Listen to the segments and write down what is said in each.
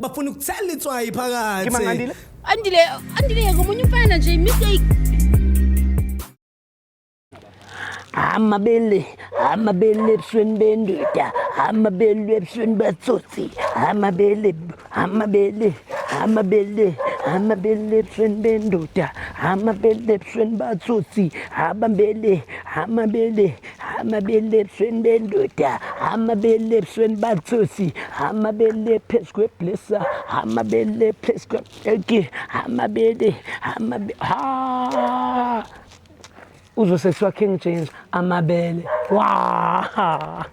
bafuna ukuthela itswayi phakathi Ke mangandile. andile andile yeka omunye umfana nje mistake amabele amabele ebusweni bendoda amabele ebusweni batsotsi amabele amabele amabele amabele ebusweni bendoda amabele ebusweni batsotsi amabele amabele hama bele ebusweni bendoda hama bele ebusweni bathusi hama bele phezu kweblesa hama bele phezu kwebheki hama bele hama ha uzosesiwa king james amabele wa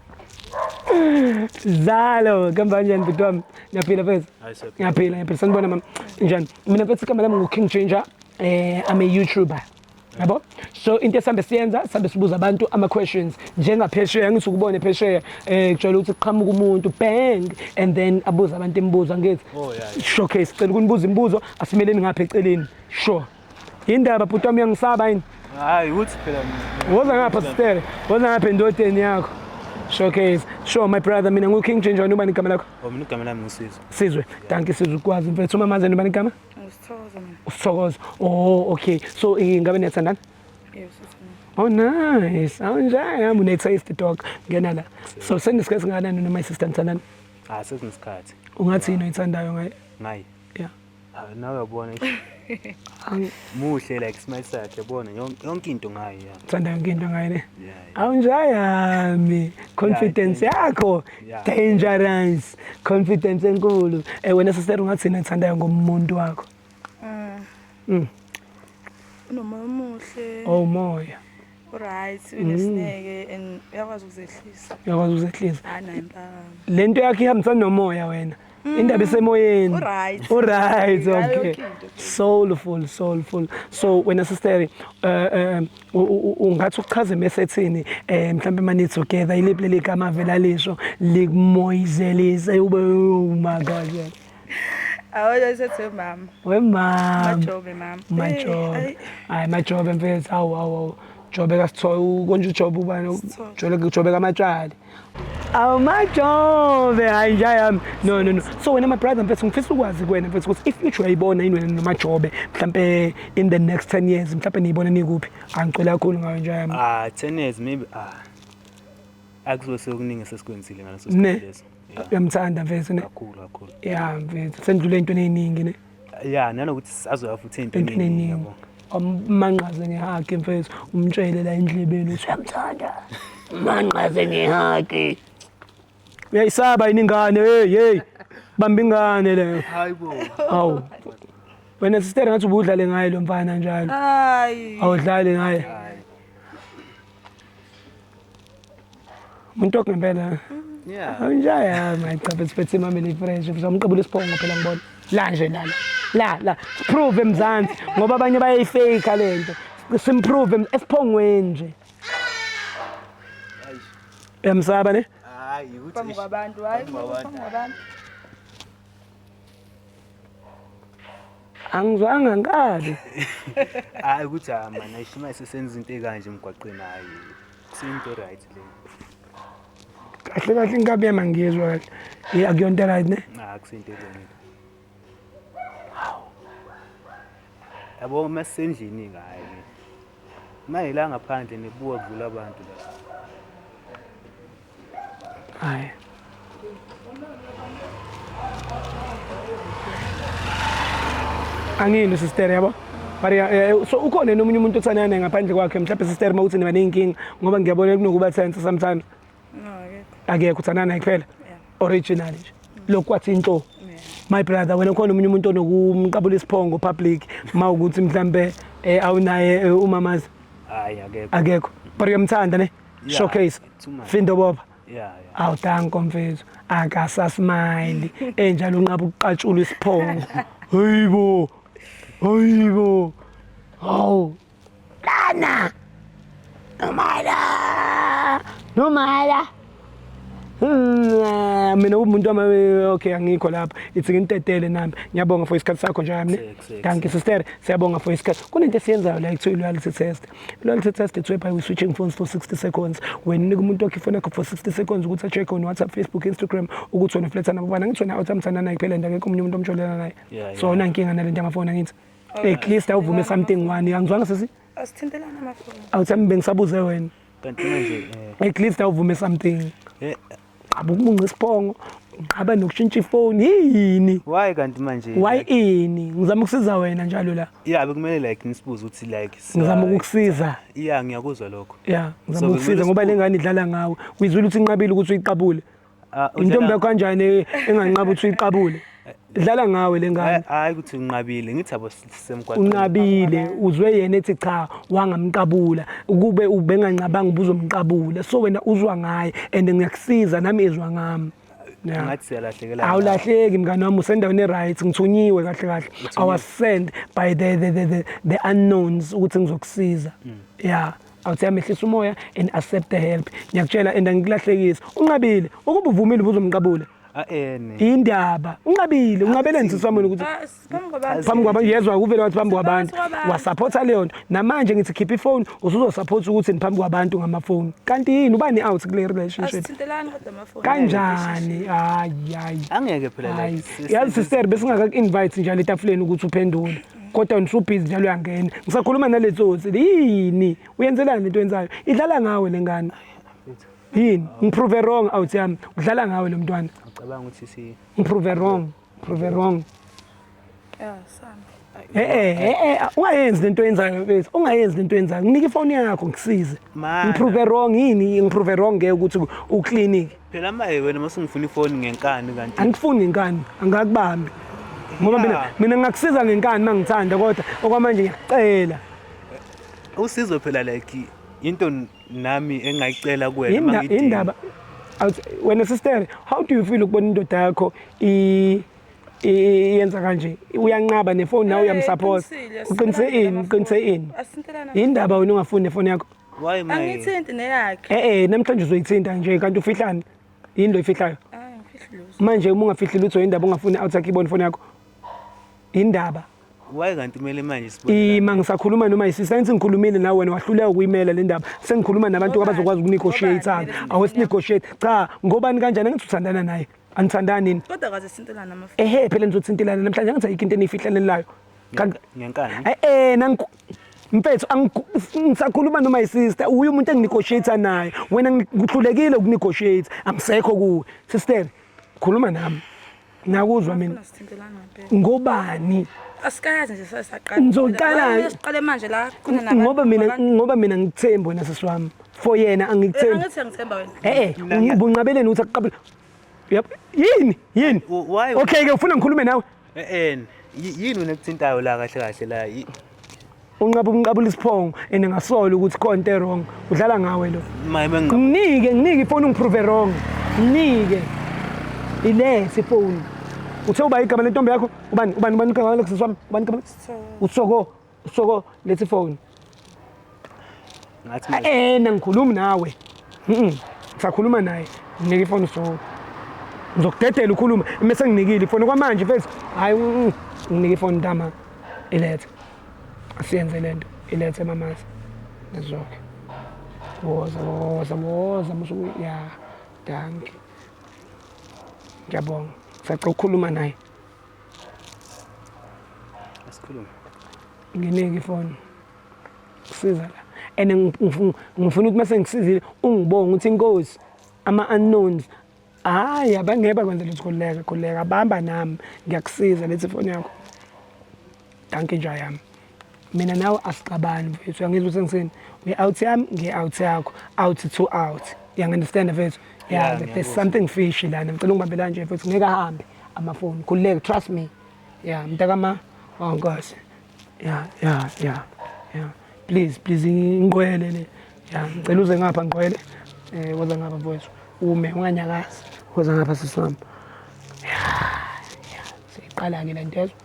zalo kamba njani bhuti wami ngiyaphila fethu ngiyaphila ngiyaphila sanibona mama njani mina fethu igama lami ngu-king ginger um eh, i'm a youtuber yabo so into esihambe siyenza sihambe sibuza abantu ama-questions njengaphesheya angithi ukubone phesheya um kujwayele ukuthi kuqhamuka umuntu bang and then abuze abantu imibuzo angithi oh, showcase sicela ukunibuza imibuzo asimeleni ngapha eceleni sure yindaba bhuti wami uyangisaba yini hayi ukuthi phela woza ngapha sitere woza ngapha endodeni yakho showcase sure my brother mina ngu-king jinjani ubani igama lakho oh, mina igama lami ngusizwe sizwe danki sizwe ukwazi mfethu uma maze nobani igama Usithokoza mina. Usithokoza. Oh, okay. So ingane niyathandana? Yes, sithandana. Oh nice. Awunjani yami une taste dog. Ngena la. So senisikhathi singakanani noma isister nithandana? Ah, sesinesikhathi. Ungathi yini oyithandayo ngaye? Ngaye. Yeah. Ah, nawe yabona. Muhle like smile sakhe yabona yonke into ngaye. Thanda yonke into ngaye ne? Yeah. awunjayami confidence yakho dangerous confidence enkulu eh wena sister ungathina ethandayo ngomuntu wakho mm. mm. unomoya omuhle oh moya right unesineke mm. and uyakwazi ukuzehlisa uyakwazi ukuzehlisa lento yakhe ihambisana nomoya wena indaba isemoyeni Alright. alright Ngayo okay yonke into. soulful soulful so wena sister eh, eh, u- u- u- ungathi uchaze mesethini eh mhlambe mani together iliphi leli gama vela lisho likumoyizelise ube oh my god yeah. Awona isethe mama. wemama Majobe mama. Eh, majobe ayi. hayi majobe mfethu awu awu awu jobe kasithola konje ujobe ubani Sithole. jobe jobe kamatshali awumajove hayi nja yami no no no so wena my brother mfethu ngifisa ukwazi kuwena mfethu ukuthi if future uyayibona yini wena nomajobe mhlampe in the next 10 years mhlampe niyibona nikuphi angicela kakhulu ngayo nja yami ah 10 years maybe ah akuzo sekuningi sesikwenzile ngaleso sikhathi leso uyamthanda mfethu ne kakhulu kakhulu yeah mfethu sendlule into eningi ne ya nanokuthi sisazoya futhi entwenini yabo manqaze ngehage mfethu umtshele la endlebeni uthi uyamthanda manqaze ngehage uyayisaba yini ingane hey hey bamba ingane le hayibo awu wena sister ngathi ubudlale ngaye lo mfana njalo hayi awudlali ngaye umuntu okungempela anjaya mayicaphe siphethe imameli fresh uzamqabula isiphongo phela ngibona la nje lana la la prove emzansi ngoba abanye bayayifake lento simprove esiphongweni nje uyamsaba ne hayi ukuthi abantu hayi abantu angizwanga nkabi hayi ukuthi hayi mani ayishima sesenza into ekanje emgwaqeni hayi kusiyinto right le kahle kahle inkabi yami angiyezwa kahle ye akuyonto right ne hayi ah, kusiyinto elungile yabo uma sisendlini ngayo uma yila ngaphandle nebuka kudlula abantu la Haya. angiyini sister yabo but eh, eh, so ukhona nomunye umuntu othandana naye ngaphandle kwakhe mhlawumbe sister uma uthi niba ney'nkinga ngoba ngiyabona kunokuba thensa samthanda akekho uthandana naye kuphela original nje lokhu kwathi inhlo my brother wena khona omunye umuntu onokumqabula isiphongo public ma ukuthi mhlambe eh, awunaye umamazi akekho but uyamthanda ne yeah, showcase findo boba yeah, yeah. awu danko mfethu akasasmile enjalo unqaba ukuqatshula isiphongo hayibo hayibo hawu lana nomala nomala Hmm, mina umuntu wami okay angikho lapha ithi ngintetele nami ngiyabonga for isikhathi sakho nje yami thank you sister siyabonga for isikhathi kunento esiyenzayo la ekuthiwa loyalty test loyalty test it's whereby we switching phones for 60 seconds wena unika umuntu wakhe ifoni yakho for 60 seconds ukuthi acheck on WhatsApp Facebook Instagram ukuthi wena fletha nabo bana ngithi wena awuthamthana naye kuphela nje akekho umunye umuntu omjolela naye so ona inkinga nalento yamafoni angithi at least awuvume something one angizwanga sisi asithintelana amafoni awuthi bengisabuze wena kanti manje eh, at least awuvume something eh, qaba ukumunca isiphongo uqaba nokushintsha ifoni yini why kanti manje why ini ngizama ukusiza wena njalo la yeah bekumele like ngisibuze ukuthi like sa- ngizama ukukusiza yeah ngiyakuzwa lokho ya ngizama So, ukusiza kumele ngoba le ngane idlala ngawe uyizwile ukuthi inqabile ukuthi uyiqabule Ah, udlala- intombi yakho kanjani e- enganqaba ukuthi uyiqabule idlala ngawe le ngane Hayi- hayi ukuthi unqabile ngithi abo sisemgwaqeni unqabile uzwe yena ethi cha wangamqabula ukube ubenganqabanga ubuzomqabula so wena uzwa ngaye and ngiyakusiza nami izwa ngami Yeah. ngathi siyalahlekela awulahleki mngane wami usendaweni e-right ngithunyiwe kahle kahle i was sent by the, the, the, the, the unknowns ukuthi ngizokusiza ya I would say amehlisa umoya and accept the help. Ngiyakutshela and angikulahlekisi. Unqabile ukuba uvumile ubuzomqabula. aene Indaba unqabile unqabeleni sisi wami wena ukuthi Ah, siphambi kwabantu. phambi kwabantu yezwa kuvele wathi phambi kwabantu Saphosa kwabantu. wasaphotha leyo nto namanje ngithi khipha ifoni usuzosaphotha ukuthi phambi kwabantu ngamafoni kanti yini ubani out kule relationship Asithintelani kodwa amafoni. kanjani hayi hayi angeke phela hayi like yazi sister besingaka-invite njalo etafuleni ukuthi uphendule kodwa ngisubhizi njalo uyangena ngisakhuluma nale tsotsi yini uyenzelani lento yenzayo idlala ngawe le ngane yini ngiprove wrong out yami udlala ngawe lo mntwana ngicabanga ukuthi si ngiprove wrong prove wrong yeah sami Eh eh eh, eh ah, ungayenzi lento yenzayo bese ungayenzi lento yenzayo nginika ifoni yakho ngisize ngiprove wrong yini ngiprove wrong ngeke ukuthi uclinic Phela maye wena masungifuna ifoni ngenkani kanti. Angifuni ngenkani, angakubambi. Ngoba mina Yeah. mina ngakusiza ngenkani mangithanda kodwa okwamanje ngiyacela. Usizo phela like into n- nami engayicela kuwena Yinda- mangidinga. Yindaba Awuthi, wena sister, how do you feel ukubona indoda yakho i i- i- yenza kanje? Uyanqaba nefoni nawe Eh, uyamsupport. iqinisile, Uqinise sibona ini? ngamaphone. Uqinise ini? Asintelana Yindaba wena ungafuni nefoni yakho. Why my? Angithinti neyakhe. Eh eh namhlanje uzoyithinta nje kanti ufihlani? Yini lo ifihlayo? Ah, ngifihli lutho. Manje uma ungafihli lutho indaba ungafuni out sakhe ibone phone yakho. Indaba. Why kanti kumele manje sibone? Ima ngisakhuluma noma isisa ensi ngikhulumile nawe wena wahluleka ukuyimela le ndaba. Sengikhuluma nabantu Ngobani? abazokwazi ukunegotiate Ngobani? sana. Awesinegotiate. Cha, ngobani kanjani angithi uthandana naye? Anithandani nini? Kodwa kaze sintelana amafa. Ehe phela nizothintelana namhlanje angithi ayikho into eniyifihlelelayo. ngenkani eh, eh nangu mfethu ngisakhuluma noma yisister uye umuntu enginegotiate naye wena ngikuhlulekile ukunegotiate amsekho kuwe sister khuluma nami nakuzwa mina ngobani asikayazi nje sasaqala ngizoqala siqale manje la khona nabanye ngoba mina ngoba mina ngithembi wena sisi wami for yena angikuthembi eh, angithi ngithemba wena eh eh ubunqabeleni ukuthi akuqabule yini yini okay ke ufuna ngikhulume nawe en yini wena kuthintayo la kahle kahle la unqaba umqabula isiphongo and ngasola ukuthi konto wrong udlala ngawe lo nginike nginike ifoni ungiprove wrong nginike ilesi ifoni uthe uba igama lentombi yakho ubani ubani ubani igama lexes wami ubani igama utsoko Soko lethi phone. Ngathi manje. Eh nangikhulumi nawe. Mhm. Ngisakhuluma naye. Nginike ifoni soko. Ngizokudedela ukhuluma mase nginikile ifoni kwamanje mfethu. Hayi mm, nginike ifoni ntama. Ilethe. Asiyenze lento. Ilethe mamazi. Ngizoke. Woza woza woza musu ya. Danke. Ngiyabonga. Sacela ukukhuluma naye. Asikhulume. Nginike ifoni. Siza la. And ngifuna ukuthi mase ngisizile ungibonga ukuthi inkosi ama unknowns hayi abangeke bakwenza lutho khuleka khuleka bamba nami ngiyakusiza lethi ifoni yakho. Dankie nja yami. mina nawe asixabani mfethu uyangizwa ukuthi engisini ngi-out yami ngi-out yakho out to out uyangi-understanda mfethu Yeah, yeah, there's something fishy lana ngicela ungibambela nje mfethu ngeke ahambe amafoni khululeke trust me ya mntakama wankosi oh, ya ya ya ya please please ngiqwele le ya ngicela uze ngapha ngiqwele um woza ngapha mfowethu ume unganyakazi woza ngapha sisami ya ya seyiqala-ke le nto ezwa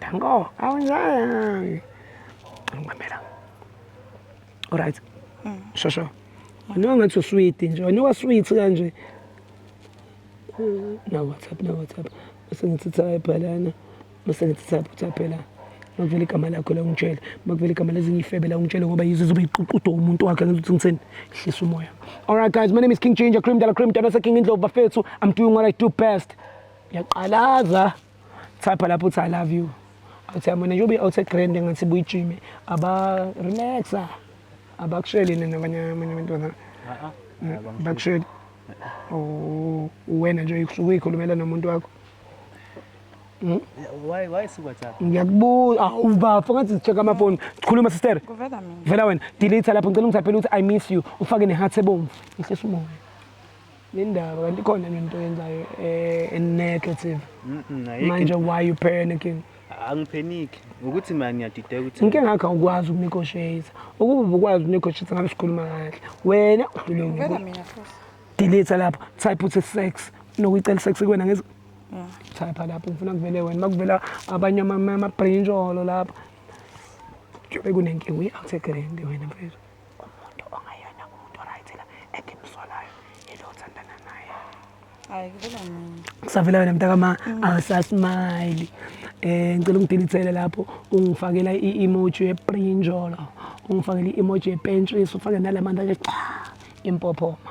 Tango, awunjani? Ngibambela. All right. Mm. Shosho. Noma ngathi usweet nje, wena sweet kanje. Na WhatsApp, na WhatsApp. Bese ngithi tsa ebhalana. Bese ngithi tsa phela. makuvela igama lakho la ungitshele makuvela igama lezinye ifebe la ungitshele ngoba yizo zobe iququdwa umuntu wakhe ngizothi ngiseni hlisa umoya all right guys my name is king ginger cream dala cream dala seking indlovu bafethu i'm doing what i do best yaqalaza thapha lapho uthi i love you uthi yamona njengoba i-outer grand engathi buyijime aba relaxa abakusheli nina abanye abanye abantwana bakusheli uwena nje usuke uyikhulumela nomuntu wakho Hmm? Why why si WhatsApp? Ngiyakubuza. Ah ubafo ngathi check ama phone. Sikhuluma sister. Kuvela mina. Vela wena. Delete lapho ngicela ungithaphele ukuthi I miss you. Ufake ne heart ebomvu. Ihlisa umoya. Nindaba kanti khona into yenzayo eh negative. Manje why you panicking? Angipheniki. Ukuthi manje ngiyadideka ukuthi Ngike ngakho ukwazi ukunegotiate. Ukube ukwazi ukunegotiate ngabe sikhuluma kahle. Wena udlule. Vela mina futhi. Delete lapho. Type uthi sex. Nokuyicela sex kwena ngezi Thapha lapho ngifuna kuvele wena makuvela abanye amabrinjolo lapho kube kunenkinga uyi-out egrand wena mfethu umuntu ongayena umuntu oright la engimsolayo yilo othandana naye hayi kuvela mina kusavela wena mntakama mm. awusasimile eh ngicela ungidilithele lapho ungifakela i-emoji yeprinjolo ungifakela i-emoji yepentshisi ufake nalamanzi athi cha impophoma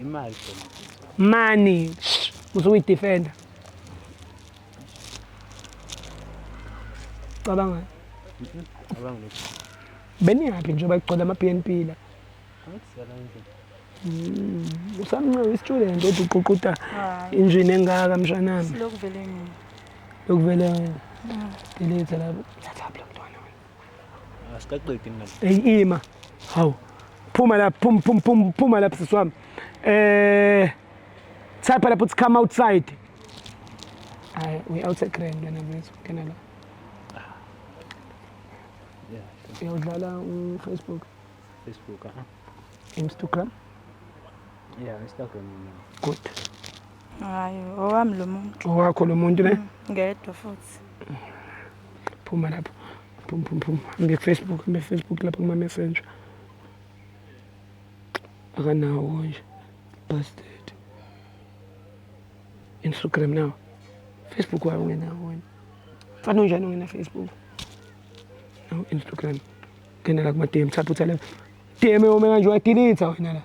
imali mani uzuyidefenda cabanga cabanga beniyaphi njengoba kugcwele ama-bnp la hmm, usamncane i-student othi uququta injini engaka mshanami lokuvele lokuvele delete lapho thatha lapho mntwana wena Asikaqedi mina. Hey ima. Hawu. Phuma lapha, phum phum phum phuma lapha sisi wami. Eh Type lapho uthi come outside. Hayi, we outside grand wena mfethu. Kena la. Uyawudlala uFacebook, Facebook aha. Instagram. Yeah, Instagram mina. Good. Hayi, owami lo muntu. Owakho lo muntu ne? Ngedwa futhi. phuma lapho phum phum phum ngefacebook ngefacebook lapho kuma-messenger akanawo nje bastard instagram nawo facebook wayo ungenawo wena fana unjani ungena facebook nawo instagram ngena la kuma-dm thatha utha la dm yome kanje wadilitha wena la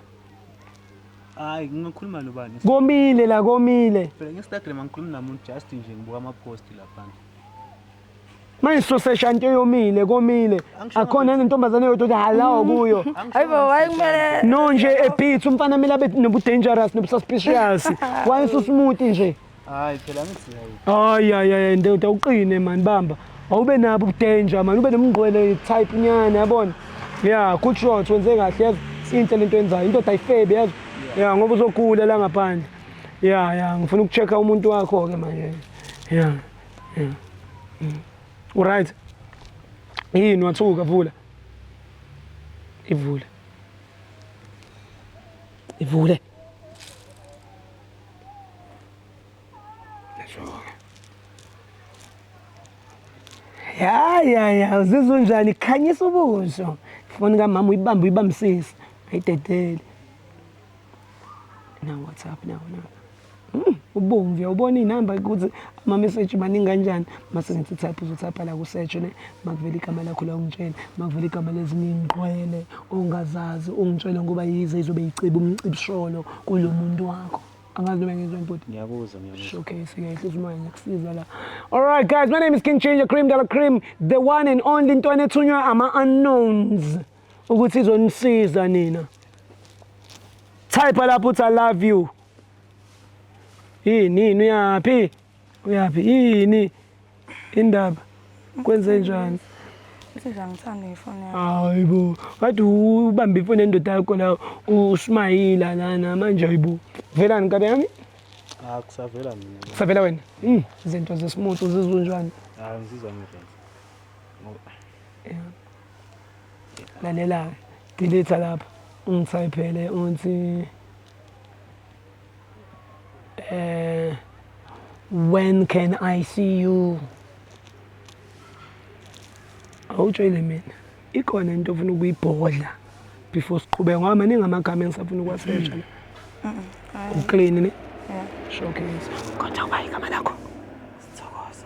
hayi ngingakhuluma nobani komile la komile phela nge-instagram angikhulumi namuntu just nje ngibuka ama-post lapha manje sosesha nto eyomile komile akhona yini intombazane yodwa ukuthi halawo kuyo hayibo wayekumele no nje ebit umfana kumele abe nobudangerous nobususpicious wayesusmuti nje hayi phela ngisiyayi hayi hayi hayi ndoda uqine mani bamba awube nabo ubudanger mani ube nomngqwele type nyana yabona ya good shot wenze kahle yazi inhle lento yenzayo indoda ayifebe yazi ya ngoba uzogula la ngaphandle ya ya ngifuna ukuchecka umuntu wakho-ke manje Yeah. Yeah. Mm. Uright. Yini wathuka vula. Ivule. Ivule. Ya ya ya uzizwa unjani khanyisa ubuso. Foni kamama uyibamba uyibambisisa. Ayidedele. na WhatsApp nawo nawo hmm, ubomvu uyawubona iy'namba ukuthi amameseji maningi kanjani mase ngithi thapha uzothapha la kusearch ne makuvela igama lakho la ungitshele makuvela igama lezinye iy'ngqwele ongazazi ungitshele ngoba yize izobe yiciba umcibisholo kulo muntu wakho angazi noma ngizwe bhuti ngiyakuzwa ngiyakuzwa showcase ngiyahlisa umoya ngiyakusiza la all right guys my name is king changer cream dollar cream the one and only into enethunywa ama unknowns ukuthi izonisiza nina type lapho uthi i love you yini yini uyaphi uyaphi yini indaba kwenze njani Siza ngithanda ifoni yakho. hayi bo kade ubambe ifoni endoda yakho la usmayila lana manje hayi bo velani nkabe yami Ah kusavela mina. kusavela wena Mm, izinto zesimutu zizunjani Ah ngizizwa ngirenze. Lalela-ke. Delete lapha. Ungithayiphele uthi eh when can I see you? Awutshele mina. Ikhona into ofuna ukuyibhodla before siqhubeke ngoba maningi amagama engisafuna ukuwasetsha la. Uclean ne? Yeah. Showcase. Kodwa kwayi igama lakho.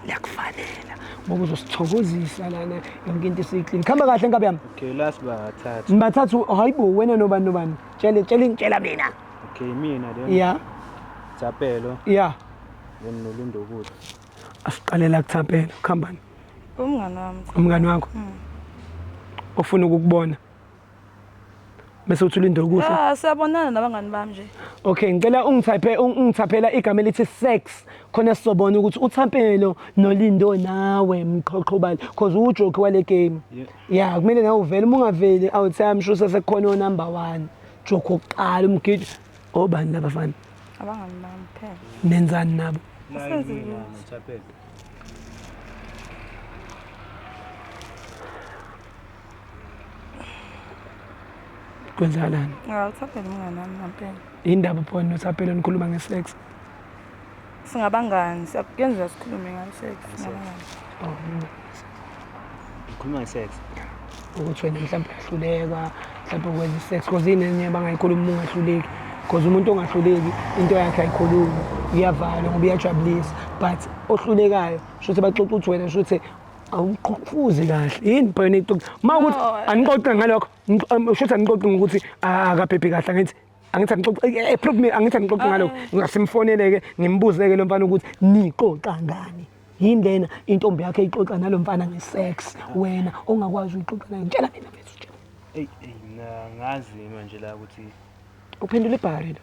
liyakufanela ngoba uzosithokozisa lana yonke into isiyiklini khamba kahle nkabi yami okay last bathathu nibathathu hayi bo wena nobani nobani tshele tshele ngitshela mina okay mina then ya thapelo ya then nolundo kude asiqalela kuthapelo khambani umngani wami umngani wakho ufuna hmm. ukukubona bese uthi ulinde ukudla ya siyabonana nabangani bami nje okay ngicela ungithaphe ungithaphela igama elithi sex khona sizobona ukuthi uthampelo nolindo nawe mqhoqhobali because ujoke wale game ya kumele nawe uvele uma ungaveli awuthi i'm sure sesekukhona onumber 1 joke oqala umgidi obani laba fana abangani bami phela nenzani nabo kwenzakalani ngawuthaphela umngane wami ngampela indaba phone nothapelo nikhuluma ngesex singabangani kuyenzeka sikhulume ngesex singabangani oh, ngikhuluma ngesex ukuthi wena mhlawumbe uyahluleka mhlawumbe ukwenza isex because inenye bangayikhuluma uma ungahluleki because umuntu ongahluleki into yakhe ayikhulumi iyavalwa ngoba iyajabulisa but ohlulekayo shuthi baxoxa ukuthi wena shuthi awuqhufuzi kahle yini bhayona ixoxa uma ukuthi anixoxe ngalokho usho ukuthi anixoxe ngokuthi akaphephi kahle angithi angithi anixoxe eh, eh, prove me angithi anixoxe ah. ngalokho ngasimfoneleke ngimbuze-ke lo mfana ukuthi nixoxa ngani yini lena intombi yakhe ixoxa nalo mfana nge-sex wena ongakwazi uyixoxa nayo ngitshela mina bese utshela eyi ngazi manje la ukuthi uphendula ibhari lo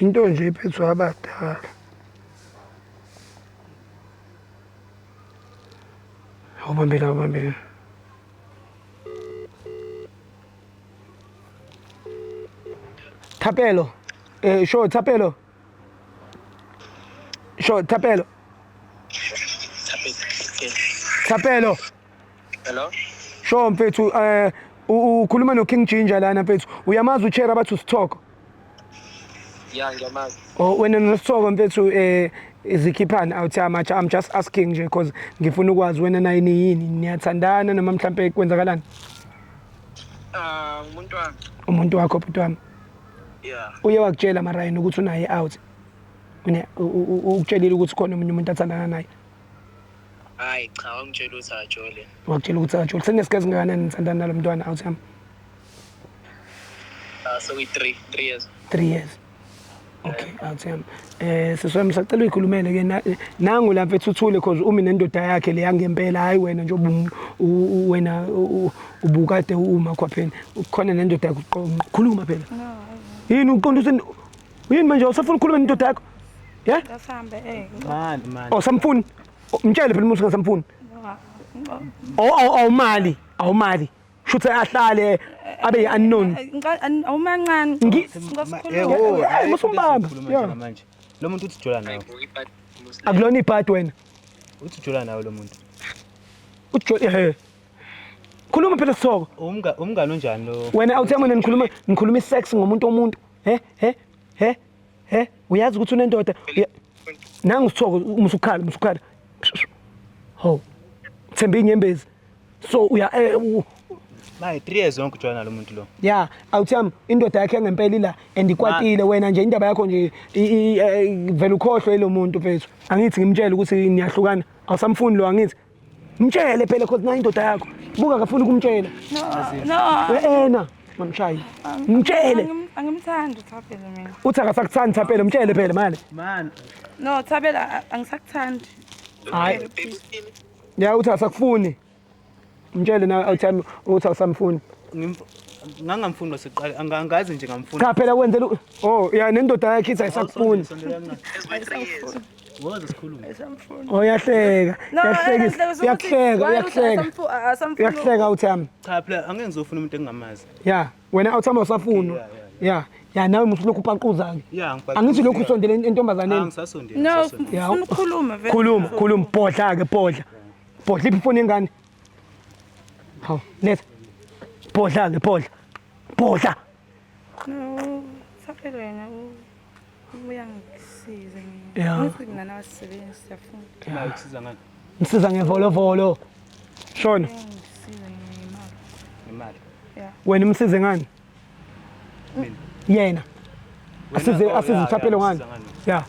Into nje ephethwe abadala. Awubambe la, awubambe la. Thapelo. Eh, sho Thapelo. Sho Thapelo. Thapelo. Hello. Sho mfethu eh u- ukhuluma no King Ginger lana mfethu. Uyamazi uChera abathi usithoko. Ya ngiyamazi. Oh wena nosithoko mfethu eh izikhiphani awuthi amatsha I'm just asking nje because ngifuna ukwazi wena naye niyini niyathandana noma mhlampe kwenzakalani Ah umuntu wami. umuntu wakho bhuti wami. Ya. Uye wakutshela marayini ukuthi unaye out. Une u- u- u- ukutshelile ukuthi khona umunye umuntu athandana naye. Hayi cha wangitshela ukuthi ajole. Wakutshela ukuthi ajole. Sekunesikhathi singakanani nithandana nalo mntwana out yami? Ah so we 3 3 years. 3 years. Okay, out yami. Eh siswami sacela uyikhulumele ke na- nangu lapha ethuthule cause umi nendoda yakhe le yangempela hayi wena nje ubu- u- u- wena u- u- ubukade uma khwapheni. Ukhona nendoda yakhe uqonqo. Khuluma phela. Yini uqonda usen Uyini manje usafuna ukukhuluma nendoda yakho? Yeah? Kasambe eh. Mani mani. Oh samfuni. Oh, Mtshele phela umuntu ngasamfuni. Oh oh oh mali. Awu mali. Shuthi ahlale abe yi-unknown. Awumancane. Ngi- Ngosikhuluma. Ewo, Eh, ayikho musumbamba. into esikhuluma Yeah. njena manje. Lo muntu uthi jola nawe. Akulona ibhadi wena. Uthi jola nawe lo muntu. Ujo eh. Khuluma phela sithoko. Umga umngani onjani lo? Wena awuthi yami nikhuluma nikhuluma isex ngomuntu omuntu. he he he he uyazi ukuthi unendoda nangu sithoko umusukhala umusukhala ho themba inyembezi so uya eh, Maye 3 years yonke ujoyina lo muntu lo. Yeah, awuthami indoda yakhe ngempela ila and ikwatile wena nje indaba yakho nje eh, vela ukhohlwe lo muntu mfethu. Angithi ngimtshele ukuthi niyahlukana. Awusamfuni lo angithi Mtshele phela cause nayo indoda yakho. Buka akafuni ukumtshela. No. Ena mamshayi. Mtshele. Angimthandi uThabela mina. Uthi akasakuthandi Thabela, mtshele phela manje. Man. No, Thabela angisakuthandi. Hayi. Ya uthi asakufuni. Mtshele na awuthami uthi awusamfuni. Ngangamfuni basiqale angazi nje ngamfuni. Cha phela kwenzela oh ya nendoda yakhe ithi ayisakufuni. Ngoze sikhulume. Esamfuna. Oh yahleka. No, Yahlekisa. eh, Yahleka, ukuthi- Yahleka, why ukuthi yahleka. asamfu- a- asamfuna- Yahleka uThami. Cha phela angeke ngizofuna umuntu engingamazi. Ya, wena uThami usafuna. Yeah, Ya, ya nawe musu lokhu upaquza ke. Yeah, ngibhaquzile. Angithi lokhu usondele Ah, entombazaneni. ngisasondele. No, ngisasondele. ufuna ukukhuluma vele. Khuluma, khuluma, bhodla ke bhodla. Bhodla iphi ifoni yengane? Haw, letha. Bhodla ke bhodla. Bhodla. No, sakele wena. u- Uyangisiza mina. Yeah. Ngithi mina nawasebenzi siyafuna. Imali kusiza ngani? Ngisiza ngevolovolo. Shona. Uyangisiza ngemali. Imali. Yeah. Wena umsize ngani? Mina. Yena. Wena- Asize oh, asize yeah, uthapelo yeah, ngani? usiza ngani? Yeah.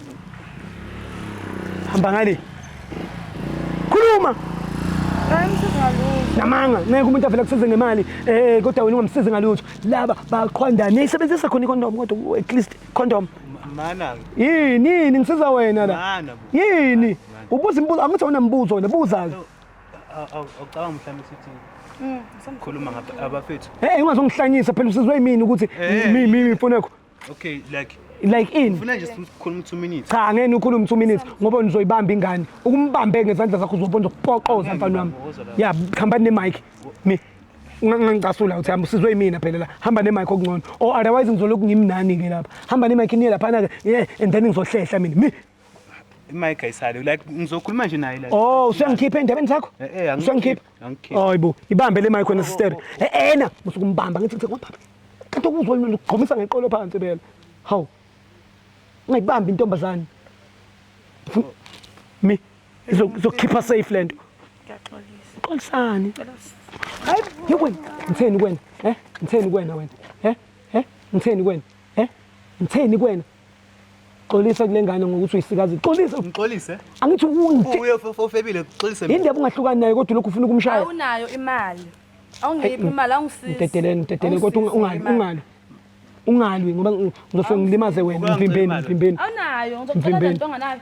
Hamba ngale. Khuluma. Hayi msiza ngalutho. namanga ngeke umuntu avele kusize ngemali eh kodwa wena ungamsizi ngalutho laba baqhwandane isebenzisa khona ikondomu kodwa at least condom mana yini yini ngisiza wena la mana yini ubuza imibuzo angithi unemibuzo wena buza ke awucabanga mhlawumbe sithi mm, khuluma abafethu hey ungazongihlanyisa phela usizwe yimini ukuthi eh. mimi mimi mfonekho okay like like in ufuna nje sikhuluma 2 minutes cha ngeke ukhulume 2 minutes ngoba nizoyibamba ingane ukumbambe ngezandla zakho uzobona uzokupoqoza mfana wami ya khambani ne mic mi ungangicasula uthi hamba usizwe imina phela la hamba nemike okungcono or otherwise ngizolokhu ngimnani ke lapha hamba nemike niye laphana ke yeah and then ngizohlehla mina mi imike ayisale like ngizokhuluma nje naye la oh usengikhipha endabeni zakho eh, eh, usengikhipha hayibo ibambe le mike wena sister eh, ena musukumbamba ngithi ngicela kwababa kanti okuzwa yini ukugqomisa ngeqolo phansi phela hawu ngayibambi intombazane mi izokhipha safe lento ngiyaxolisa xolisani hayi yikwena ngitheni kwena eh ngitheni kwena wena eh eh ngitheni kwena eh ngitheni kwena xolisa kule ngane ngokuthi uyisikazi xolisa ngixolise angithi unje uye ofebile xolise mina indaba ungahlukani naye kodwa lokhu ufuna ukumshaya awunayo imali awungiphi imali awungisizi ngidedeleni ngidedeleni kodwa ungali ungali ungalwi ngoba ngizofike ngilimaze wena mvimbeni mvimbeni awunayo ngizocela lento onganayo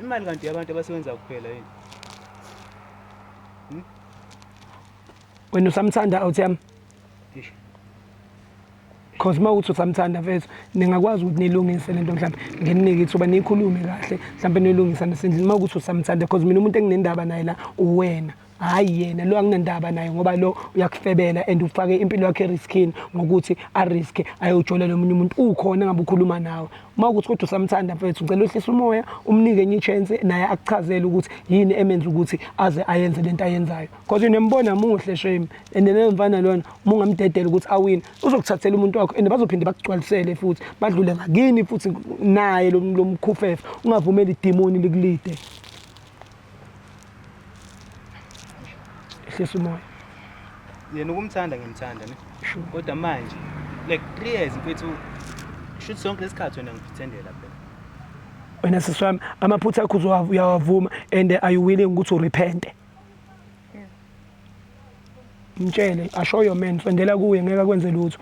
Imali kanti yabantu abasebenza kuphela yini? Hmm? Wena usamthanda out yami? Ngisho. Cause uma uthi usamthanda mfethu ningakwazi ukuthi nilungise lento mhlawumbe nginike ithuba niyikhulume kahle mhlawumbe nilungisa nesendlini uma ukuthi usamthanda cause mina umuntu enginendaba naye la uwena hhayi yena lo anginandaba naye ngoba lo uyakufebela and ufake impilo yakhe eriskini ngokuthi ariske ayowujolela omunye umuntu ukhona ngabe ukhuluma nawe uma ukuthi kodwa usamthanda mfethu ngicela uhlise umoya umnike enye ichance naye akuchazele ukuthi yini emenza ukuthi aze ayenze lento ayenzayo because unembona muhle shame and leyo mfana lona uma ungamdedela ukuthi awine uzokuthathela umuntu wakho and bazophinde bakugcwalisele futhi badlule ngakini futhi naye lo mkhufefe ungavumeli idimoni likulide ehlisa umoya yena ukumthanda ngimthanda ne Sure. kodwa manje like three years mfethu shuthi sonke lesikhathi wena ngipretendela phela wena sisi wami amaphutha akho uzowa- uyawavuma and are you willing ukuthi urepente mtshele asho your man sondela kuye ngeke akwenze lutho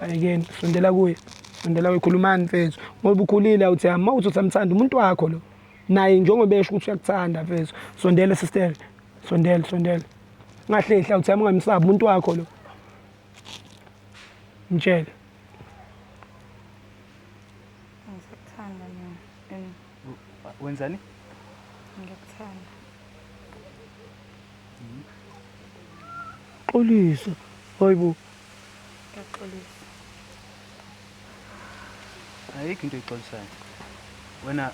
ayekeni sondela kuye sondela kuye khulumani mfethu ngoba ukhulile awuthi ama uthi usamthanda umuntu wakho lo naye njengoba esho ukuthi uyakuthanda mfethu sondele sister sondele sondele ngahlehla uthi yami ungamsabi umuntu wakho lo mtshele ngizokuthanda mina and wenzani ngiyakuthanda xolisa hayibo Ngiyaxolisa. Ayikho into exolisayo. Wena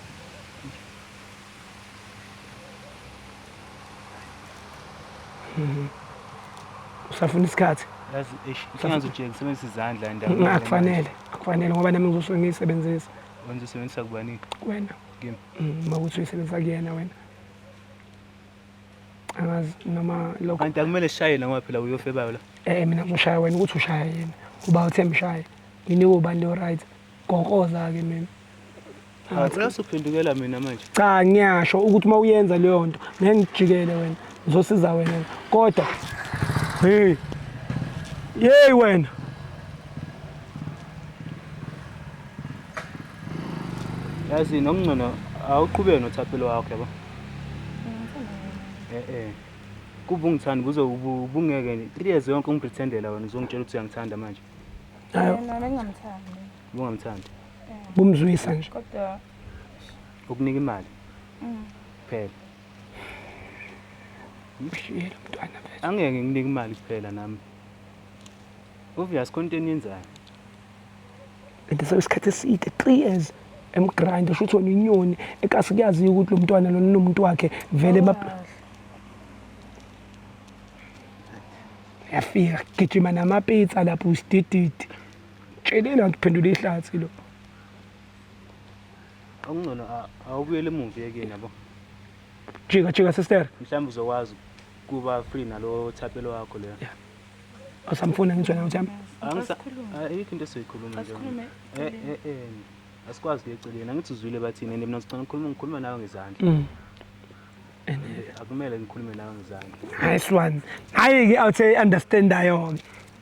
usafuna isikhathi yazi eish ingazi ujeke sebenzisa izandla endaweni. Nga- akufanele akufanele ngoba nami ngizosuke ngiyisebenzisa Wenza usebenzisa kubani? wena Kimi. Mm, uma ukuthi uyisebenzisa kuyena wena angazi noma lokho kanti akumele shaye noma phela uyofebayo la eh mina ngishaya wena ukuthi ushaya yena uba uthe mshaye yini ubani lo right gokoza ke mina Awuphindukela mina manje. Cha ngiyasho ukuthi uma uyenza leyo nto ngeke ngijikele wena. Ngizosiza wena. Kodwa hey. Yey wena. yazi nokungcono awuqhubeke nothaphelo wakho yabo eh eh kuba ungithanda kuze ubungeke three years yonke ungipretendela wena uzongitshela ukuthi uyangithanda manje bungamthandi bumzwisa nje ukunika imali mm. kuphela ngimshiyele umntwana angeke nginike imali kuphela nami obvious konto eniyenzayo and so isikhathi eside three years emgrind sho ukuthi wena inyoni ekasi kuyaziwa ukuthi lo mntwana lona unomuntu wakhe vele yafika gijima namapitsa lapho usidididi tsheleni anti phendula ihlathi lo okungcono awubuyele emuva yekeni yabo jika jika sister mhlawumbe uzokwazi kuba free nalo thapelo wakho leyo yeah. Usamfuna ngitshwa nawe Jam? Ayikho into esiyikhuluma nje. Eh eh eh. Asikwazi kuyeceleni. Angithi uzwile bathini and mina sicela ukukhuluma ngikhuluma nawe ngezandla. Mm. And eh, akumele ngikhulume nawe ngezandla. Nice one. Hayi ke out say understand ayo.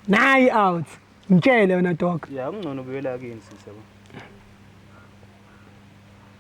Nayi out. Ngitshele wena dog. Yeah, kungcono buyela kini sisi yabo.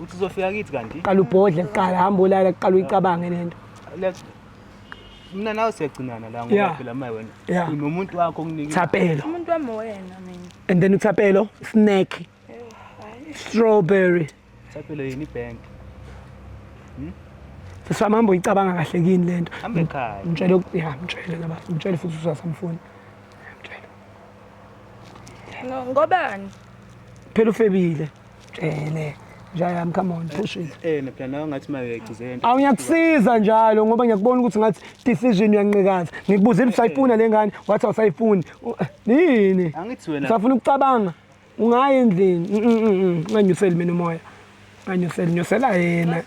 uthi uzofika kithi kanti qala ubhodle kuqala hamba ulala kuqala uyicabange lento Let's- mina nawe siyagcinana la ngoba Yeah. phela maye wena Yeah. unomuntu wakho okunike thapelo umuntu wami wena mina and then uthapelo snack strawberry thapelo yini ibhenki sisifama hamba uyicabanga kahle kini lento hambe ekhaya mtshele uku- ya mtshele ngaba mtshele futhi usasamfuni Ngo- Ngobani? Phela ufebile. Tshele. Nja yami come on push it. Eh phela nawe ngathi uma uyayigcizelela into. Awu ngiyakusiza njalo ngoba ngiyakubona ukuthi ngathi decision uyanqikaza. Ngikubuzile ukuthi usayifuna le ngane wathi awusayifuni. U- Yini? Angithi wena Usafuna ukucabanga. Ungayi endlini. Mm, mm, mm, mm. Unganyuseli mina umoya. Anyusela nyusela yena.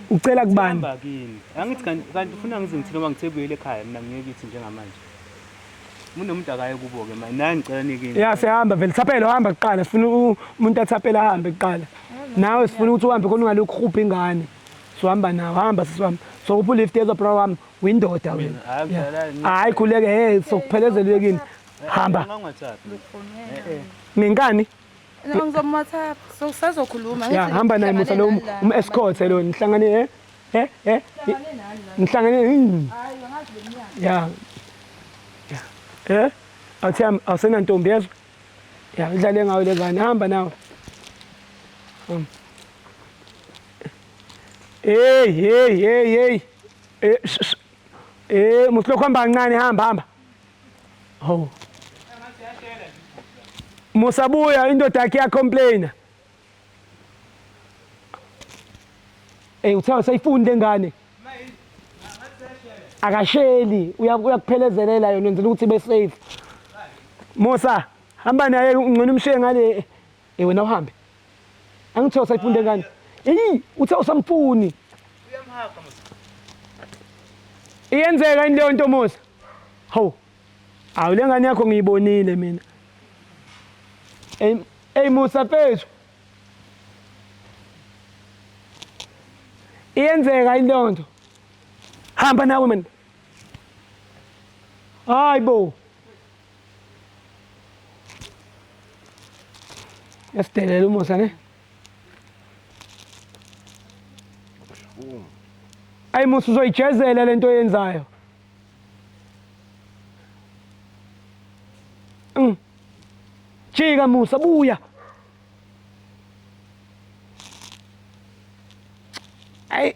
Ucela kubani? Hamba kini. Angithi kanti kanti ufuna ngize ngithini ngoba ngithe buyele ekhaya mina ngiye kithi njengamanje. Umuntu nomuntu akaye kubo ke manje. Naye ngicela nikini. Ya sihamba vele thaphela uhamba kuqala sifuna u- umuntu athaphela ahambe kuqala. Nawe sifuna ukuthi uhambe khona ungalokhu ukhupha ingane. Sohamba nawe hamba sisihamba. So uphu lift yezo bro wami windoda wena. Mina, hayi, Yeah. ngidlala, ngidlala. Hayi khuleke hey sokuphelezela uyekini. Hamba Ungangathathi. Eh eh. ngenkani. Noma ngizoma WhatsApp. So sazokhuluma. Ya hamba naye musa lo umescort lo nihlangane eh eh eh. Nihlangane. Hayi hmm. angazi leminyaka. Ya. Eh? Athi awusena ntombi yezwa. Ya idlale ngayo lezane hamba nawe. Hamba. Hey hey hey hey. Eh eh musa lokho hamba kancane hamba hamba. Hawu. Musa buya indoda yakhe ya complainer. Ey uthe usayifunde ingane. Akasheli uyakuphelezelela yona wenzela ukuthi be safe. Musa hamba naye ungcono umshiye ngale Eh wena uhambe. Angithe usayifunda ngani? Eyi uthe usamfuni. Uyamhaga mos. Iyenzeka into yonto Musa. Hawu. Awu lengane yakho ngiyibonile mina. Ey ey Musa phezu. Iyenzeka into yonto. Hamba nawe mina. Hayibo. Yasidelela uMosa ne. Ayi Musa uzoyijezela lento yenzayo. Mm. Jika Musa buya. Ayi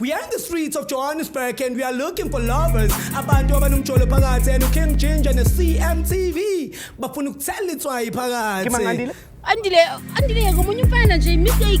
We are in the streets of Johannesburg and we are looking for lovers. Abantu abanomjolo phakathi and uKing Ginger ne-CMTV bafuna ukuthela itswayi phakathi. Kimangandile? Andile, andile yeka omunye umfana nje mistake.